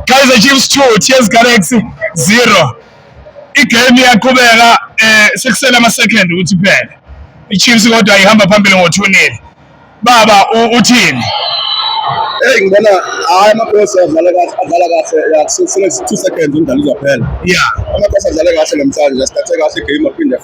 Kaizer Chiefs 2 TS Galaxy 0 igame iyaqhubeka eh sekusele ama second ukuthi phele iChiefs kodwa ihamba phambili ngothunile baba uthini Hey ngibona hayi amakhosi adlala kahle adlala kahle yakusele 2 seconds umdlalo uzophela yeah amakhosi adlala kahle namhlanje asithathe kahle game aphinde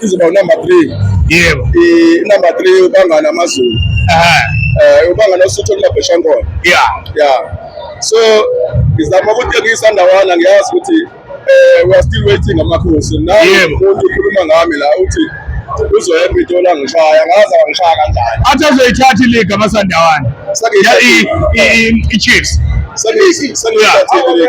izoba unumber three yebo inumber three ubangana amazulu um ubangana usuthu olulabhesha nkona ya ya so ngizama ukuthi ngiyisandawana ngiyazi ukuthi um we are still waiting amakhosi namuntu ukhuluma ngami la uthi uzoya epitoli angishaya ngaze angishaya kanjani athi azoyithatha iliga amasandawana i-chiefs sengiyithathile